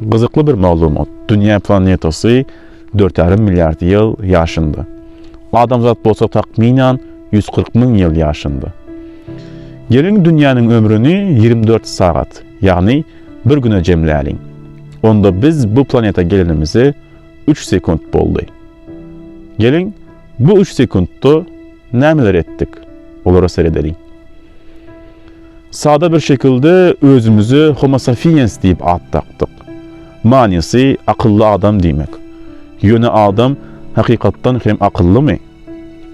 Gyzykly bir maglumat. Dünýä planetasy dört ýarym milliard ýyl ýaşynda. Adamzat bolsa takmynan ýüz kyrk müň ýyl ýaşynda. Geliň dünýäniň ömrüni ýigrimi dört sagat, ýagny bir güne jemläliň. Onda biz bu planeta gelenimize üç sekunt boldy. Geliň, bu üç sekuntda nämeler etdik? Olara seredeliň. Sada bir şekilde özümize Homo sapiens diýip at dakdyk. Manysy akylly adam diýmek. Ýöne adam hakykatdan hem akyllymy?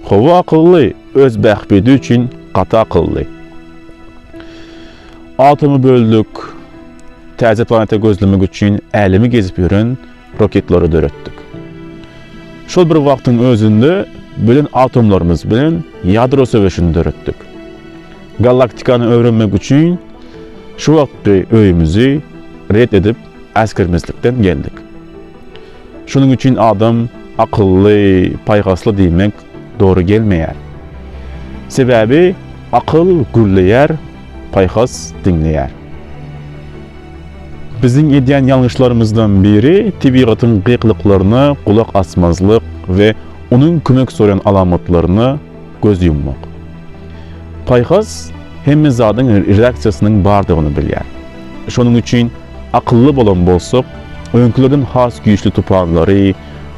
Howa akylly, öz bähbidi üçin gaty akylly. Atomy böldük, täze planeta gözlemek üçin älemi gezip ýören roketlary döretdik. Şol bir wagtyň özünde bilen atomlarymyz bilen ýadro söweşini döretdik. Galaktikany öwrenmek üçin şu wagtky öýümizi ret edip äsgermezlikden geldik. Şonuň üçin adam akylly, paýhasly diýmek dogry gelmeýär. Sebäbi akyl gürleýär, paýhas diňleýär. Biziň edýän ýalňyşlarymyzdan biri tebigatyň gykylyklaryna gulak asmazlyk we onuň kömek soraýan alamatlaryna göz ýummak. Paýhas hemme zadyň reaksiýasynyň bardygyny bilýär. Şonuň üçin akylly bolan bolsak, öňkülerden has güýçli tupanlary,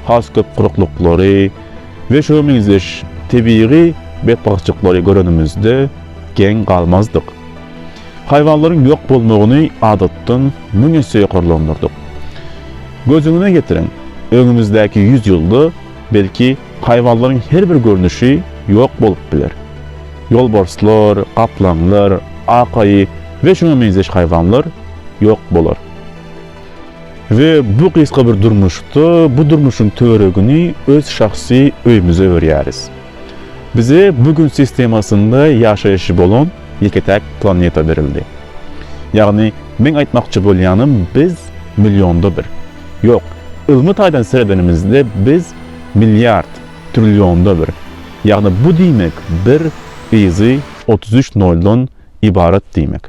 has köp guruklyklary, we şuňa meňzeş tebigy betbagtçylyklary görenimizde geň galmazdyk. Haýwanlaryň ýok bolmagyny adatdan müň esse ýokarlandyrdyk. Gözüňize getiriň, öňümizdäki ýüz ýylda, belki, haýwanlaryň her bir görnüşi ýok bolup biler. Ýolbarslar, gaplaňlar, ak aýy we şuňa meňzeş haýwanlar ýok bolar. We bu gysga bir durmuşda bu durmuşyň töweregini öz şahsy öýümize öwürýäris. Bize bu gün sistemasynda ýaşaýşy bolan ýeke-täk planeta berildi. Ýagny meň aýtmakçy bolýanym biz millionda bir, ýok, ylmy taýdan seredenimizde biz milliard, trillionda bir, ýagny bu diýmek bir yzy otuz üç noldan ybarat diýmek.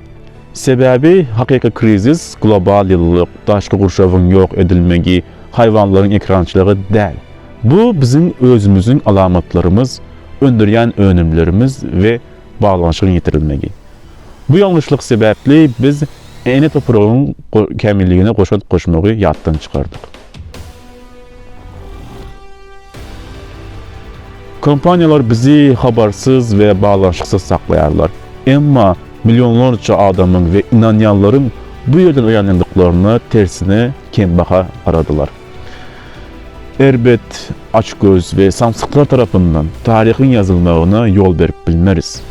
Sebäbi hakyky krizis global ýylylyk, daşky gurşawyň ýok edilmegi, haýwanlaryň ekrançylygy däl. Bu biziň özümiziň alamatlarymyz, öndürýän önümlerimiz we baglanyşygyň ýitirilmegi. Bu ýalňyşlyk sebäpli biz ene topragyň kämilligine goşant goşmagy ýatdan çykardyk. Kompaniýalar bizi habarsyz we baglanyşyksyz saklaýarlar. Emma millionlarça adamyň we ynanýanlaryň bu ýerden oýanýandyklaryna tersine kembaha garadylar. Erbet, açgöz we samsyklar tarapyndan taryhyň ýazylmagyna ýol berip bilmeris.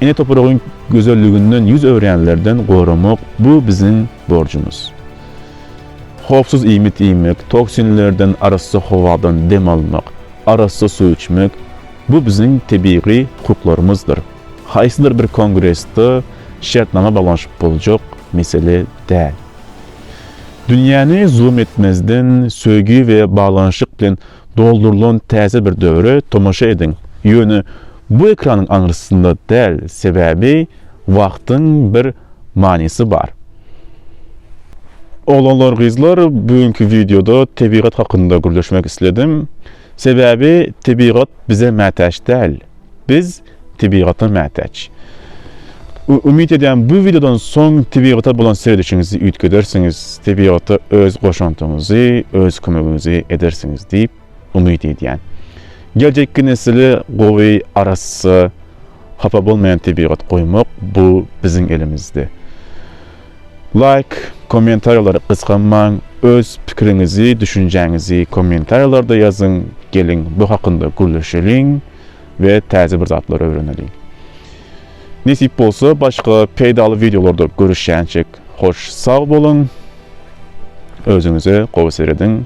Ene topragyň gözelliginden ýüz öwränlerden goramak bu biziň borjumyz. Howpsuz iýmit iýmek, toksinlerden arassa howadan dem almak, arassa suw içmek, bu biziň tebigy hukuklarymyzdyr. Haýsydyr bir kongresde şertnama baglanyşyp boljak mesele däl. Dünýäni zulum etmezden, söýgi we baglanyşyk bilen Doldurylan täze bir döwre tomaşa ediň, ýöne bu ekranyň aňrysynda däl, sebäbi wagtyň bir manysy bar. Oglanlar gyzlar bu günki wideoda tebigat hakynda gürleşmek isledim. Sebäbi tebigat bize mätäç däl. Biz tebigata mätäç. Umyt edýän bu wideodan soň tebigata bolan seredişiňizi üýtgedersiňiz, tebigata öz goşantyňyzy, öz kömegiňizi edersiňiz diýip umyt edýän. Geljekki nesile gowy, arassa, hapa bolmaýan tebigat goýmak bu biziň elimizde. Laýk, kommentariýalary gysganmaň, öz pikiriňizi, düşünjäňizi kommentariýalarda ýazyň, geliň bu hakynda gürleşeliň. we täze bir zatlar öwreneliň. Nesip bolsa başga peýdaly wideolarda görüşýänçik hoş sag boluň. Özüňize gowy serediň.